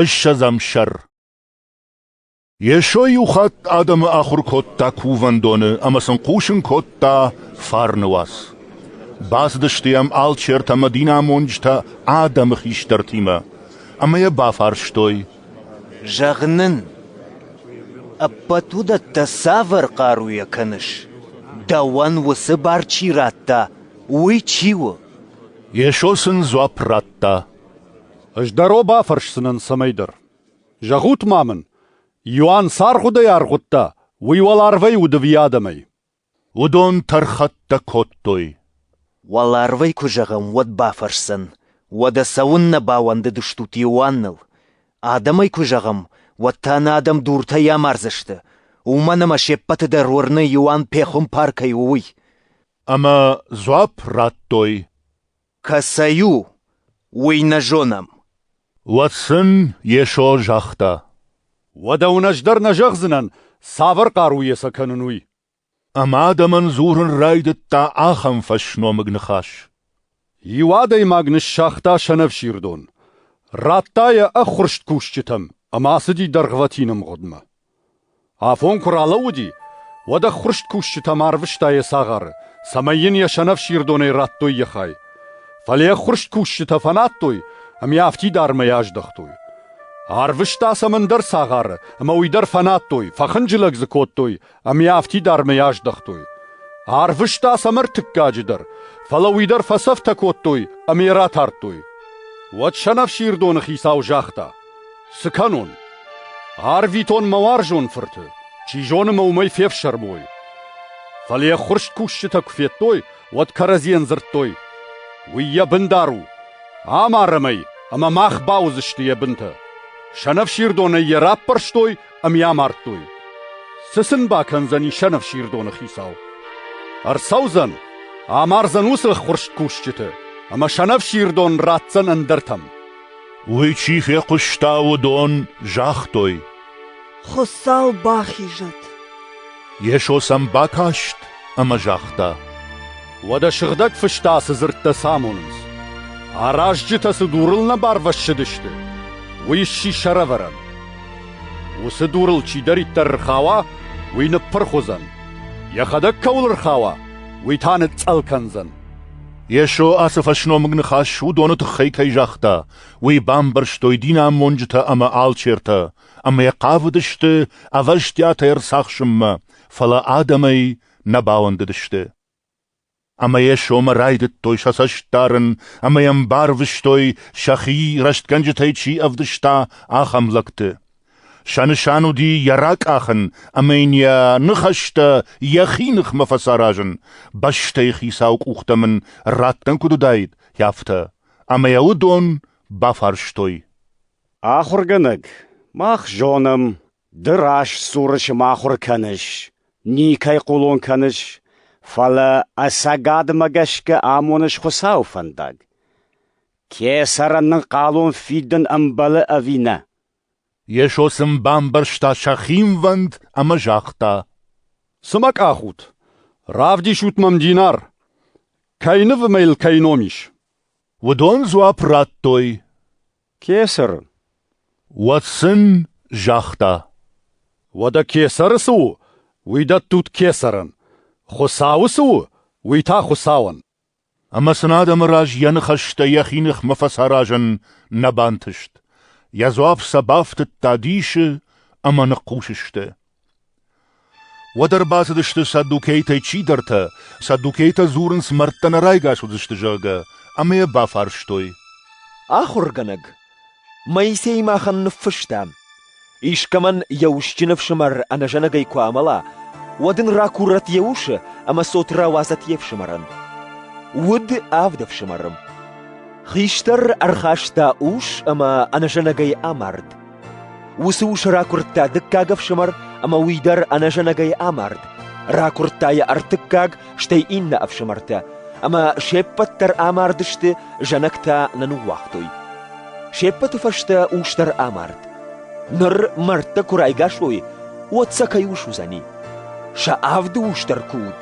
Ыссӕдзӕм сӕр Йесо иу хатт адӕмы ахуыр кодта кувӕндоны ӕмӕ сын хъусын кодта фарны уац. Бацыдысты йӕм алчертӕ ӕмӕ динамонджытӕ адӕмы хистӕртимӕ ӕмӕ йӕ бафарстой. «Зӕгъ нын, ӕппӕт уыдӕттӕ цавӕр хъаруйӕ кӕныс? Дӕуӕн уыцы бар чи радта, уый чи у?» Йесо сын дзуапп радта. Ӕз дӕр уӕ бафӕрсдзынӕн цӕмӕйдӕр. Зӕгъут-ма мын, Иоанн цы аргъуыдӕй аргъуыдта, уый уӕларвӕй удыви адӕмӕй? Уыдон тӕрхӕттӕ кодтой. Уӕларвӕй куы зӕгъӕм, уӕд бафӕрсдзӕн, Уӕдӕ цӕуыннӕ бауӕндыдыстут Иоанныл? Адӕмӕй куы зӕгъӕм, уӕд та нӕ адӕм дуртӕй амардзысты, уымӕн ӕмӕ се ппӕты дӕр уырны, Иоанн пехуымпар кӕй у, уый. Ӕмӕ дзуапп радтой, Кӕцӕй у, уый нӕ зонӕм. Уӕд сын Йесо загъта. Уӕдӕ уын ӕз дӕр нӕ зӕгъдзынӕн, цавӕр хъару йӕ сӕ кӕнын, уый. Ӕмӕ адӕмӕн дзурын райдыдта ахӕм фӕсномыг ныхас. Иу адӕймаг ныссагъта сӕнӕфсирдон, радта йӕ ӕххуырст кусджытӕм ӕмӕ ацыди дӕргъвӕтин ӕмгъуыдмӕ. Афон куы ралӕууыди, уӕд ӕххуырст кусджытӕм арвыста йӕ цагъары, цӕмӕй йын йӕ сӕнӕфсирдонӕй радтой йӕ хай. Фӕлӕ йӕ ӕххуырст кусджытӕ фӕнадтой ӕмӕ йӕ афтидармӕй аздӕхтой. Арвыста сӕм ӕндӕр цагъары, ӕмӕ уый дӕр фӕнадтой, фӕхынджылӕг дзы кодтой ӕмӕ йӕ афтидармӕй аздӕхтой. Арвыста сӕм ӕртыккаджы дӕр, фӕлӕ уый дӕр фӕцӕфтӕ кодтой ӕмӕ йӕ ратардтой. Уӕд сӕнӕфсирдоны хицау загъта: Цы кӕнон? Арвитон мӕ уарзон фырты, чи зоны мӕ уымӕй фефсӕрмой. Фӕлӕ йӕ ххуырст кусджытӕ куы федтой, уӕд кӕрӕдзийӕн дзырдтой: «Уый йӕ бындар у! Амарӕм ӕй, ӕмӕ мах бауыдзысты йӕ бынтӕ!» Сӕнӕфсирдонӕй йӕ раппӕрстой ӕмӕ йӕ амардтой. Цы сын бакӕндзӕни сӕнӕфсирдоны хицау? Ӕрцӕудзӕн, амардзӕн уыцы ххуырст кусджыты, ӕмӕ сӕнӕфсирдон ратдзӕн ӕндӕртӕм. Уый чи фехъуыста, уыдон загътой. Хуыцау бахизӕд. Йесо сӕм бакаст ӕмӕ загъта. Уӕдӕ сыгъдӕг фыстӕ цы дзырдтӕ сӕ амонынц? Аразджытӕ цы дурыл нӕ барвӕссыдысты, уый сси сӕрӕвӕрӕн. Уыцы дурыл чидӕриддӕр рхауа, уый ныппырх уыдзӕн. Йӕхӕдӕг кӕуыл рхауа, уый та ныцъцъӕл кӕндзӕн. Йесо ацы фӕсномыг ныхас уыдоны тыххӕй кӕй загъта, уый бамбӕрстой динамонджытӕ ӕмӕ алчертӕ, ӕмӕ йӕ хъавыдысты ӕвӕстиатӕй ӕрцахсынмӕ, фӕлӕ адӕмӕй нӕ бауӕндыдысты. Ӕмӕ Йесомӕ райдыдтой сӕ цӕст дарын ӕмӕ Йӕм барвыстой, сӕхи рӕстгӕнджытӕй чи ӕвдыста, ахӕм лӕгты. Сӕ нысан уыди йӕ ракъахын ӕмӕ йын йӕ ныхӕстӕ йӕхи ныхмӕ фӕцаразын, бӕстӕйы хицауы къухтӕм ын раттӕн куыд уыдаид, афтӕ, ӕмӕ йӕ уыдон бафарстой. «Ахуыргӕнӕг, мах зонӕм, ды растсуры сымахуыр кӕныс, никӕй хъулон кӕныс, фӕлӕ ӕцӕгадмӕ гӕсгӕ амоныс Хуыцауы фӕндаг. Кесӕрӕн нын хъалон фидын ӕмбӕлы ӕви нӕ?» Йесо сын бамбӕрста сӕ хинвӕнд ӕмӕ загъта: «Цы мӕ къахут? Равдисут мӕм динар. Кӕй нывы мӕ йыл кӕй ном ис?» Уыдон дзуапп радтой: «Кесар». Уӕд сын загъта: «Уӕдӕ кесары цы у, уый дӕттут кесарӕн. Хуыцауы цы у, уый та Хуыцауӕн». Ӕмӕ сын адӕмы раз йӕ ныхӕстӕ йӕхи ныхмӕ фӕцаразын нӕ бантыст. Йӕ дзуапп сӕ бафтыдта дисы ӕмӕ ныхъхъус сты. Уӕд ӕрбацыдысты саддукейтӕй чидӕртӕ, саддукейтӕ дзурынц, мӕрдтӕ нӕ райгас уыдзысты, зӕгъгӕ, ӕмӕ йӕ бафарстой. — Ахуыргӕнӕг, Моисей махӕн ныффыста: «Искӕмӕн йӕ усджын ӕфсымӕр ӕнӕзӕнӕгӕй куы амӕла, уӕд ын ракурӕт йӕ усы ӕмӕ цот рауадзӕт йе фсымӕрӕн. Уд авд ӕфсымӕры». Хистӕр ӕрхаста ус ӕмӕ ӕнӕзӕнӕгӕй амард. Уыцы ус ракуырдта дыккаг ӕфсымӕр, ӕмӕ уый дӕр ӕнӕзӕнӕгӕй амард, ракуырдта йӕ ӕртыккаг стӕй иннӕ ӕфсымӕртӕ, ӕмӕ се ппӕт дӕр амардысты, зӕнӕгтӕ нӕ ныууагътой. Се ппӕты фӕстӕ ус дӕр амард. Ныр мӕрдтӕ куы райгас уой, уӕд сӕ кӕй ус уыдзӕни? Сӕ авды ус дӕр куы уыд.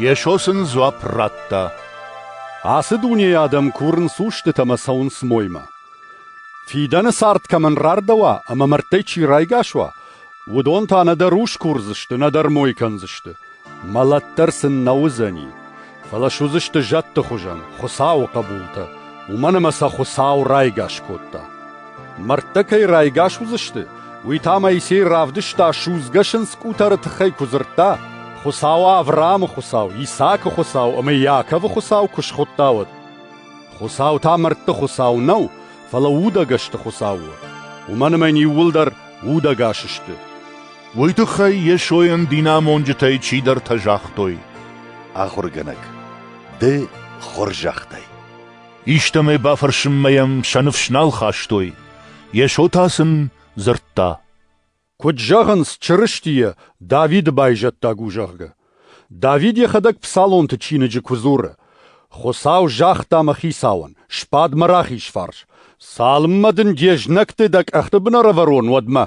Йесо сын дзуапп радта: Ацы дунейы адӕм курынц устыты ӕмӕ цӕуынц моймӕ. Фидӕны цард кӕмӕн рардӕуа ӕмӕ мӕрдтӕй чи райгас уа, уыдон та нӕдӕр ус курдзысты, нӕдӕр мой кӕндзысты. Мӕлӕт дӕр сын нӕ уыдзӕни, фӕлӕ суыдзысты зӕдты хуызӕн Хуыцауы хъӕбултӕ, уымӕн ӕмӕ сӕ Хуыцау райгас кодта. Мӕрдтӕ кӕй райгас уыдзысты, уый та Моисей равдыста судзгӕ сындз къутӕры тыххӕй куы дзырдта, Хуыцау Авраамы Хуыцау, Исаакы Хуыцау ӕмӕ Иаковы Хуыцау куы схуыдта, уӕд. Хуыцау та мӕрдты Хуыцау нӕу, фӕлӕ удӕгӕсты Хуыцау у, уымӕн ӕмӕ йын иууылдӕр удӕгас сты. уый тыххӕй Йесойӕн динамонджытӕй чидӕртӕ загътой: «Ахуыргӕнӕг, ды хорзӕхтай». Истӕмӕй бафӕрсынмӕ йӕм сӕ ныфс нал хастой. Йесо та сын дзырдта: «Куыд зӕгъынц Чырыстийӕ, Давиды байзӕддаг у, зӕгъгӕ. Давид йӕхӕдӕг псалонты чиныджы куы дзуры: «Хуыцау загъта мӕ хицауӕн: Сбад мӕ рахиз фарс, цалынмӕ дын де знӕгты дӕ къӕхты бын ӕрӕвӕрон, уӕдмӕ».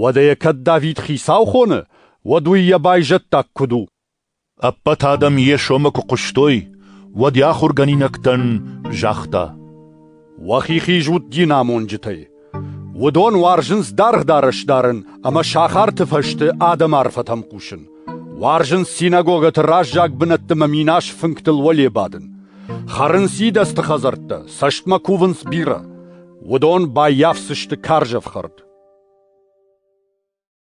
Уӕдӕ йӕ кӕд Давид хицау хоны, уӕд уый йӕ байзӕддаг куыд у? Ӕппӕт адӕм йӕ сомы куы хъуыстой, уӕд йӕ ахуыргӕнинӕгтӕн загъта: «Уӕхи хиз ут динамонджытӕй. Уыдон уарзынц даргъ дарӕс дарын ӕмӕ сахарты фӕзты адӕмы арфӕтӕм хъусын, уарзынц синагогӕты раззаг бынӕтты мӕ минас фынгтыл уӕле бадын, хӕрынц идӕдзты хӕдзӕрттӕ, цӕстмӕ кувынц бирӕ. Уыдон баййафдзысты карз ӕфхӕрд.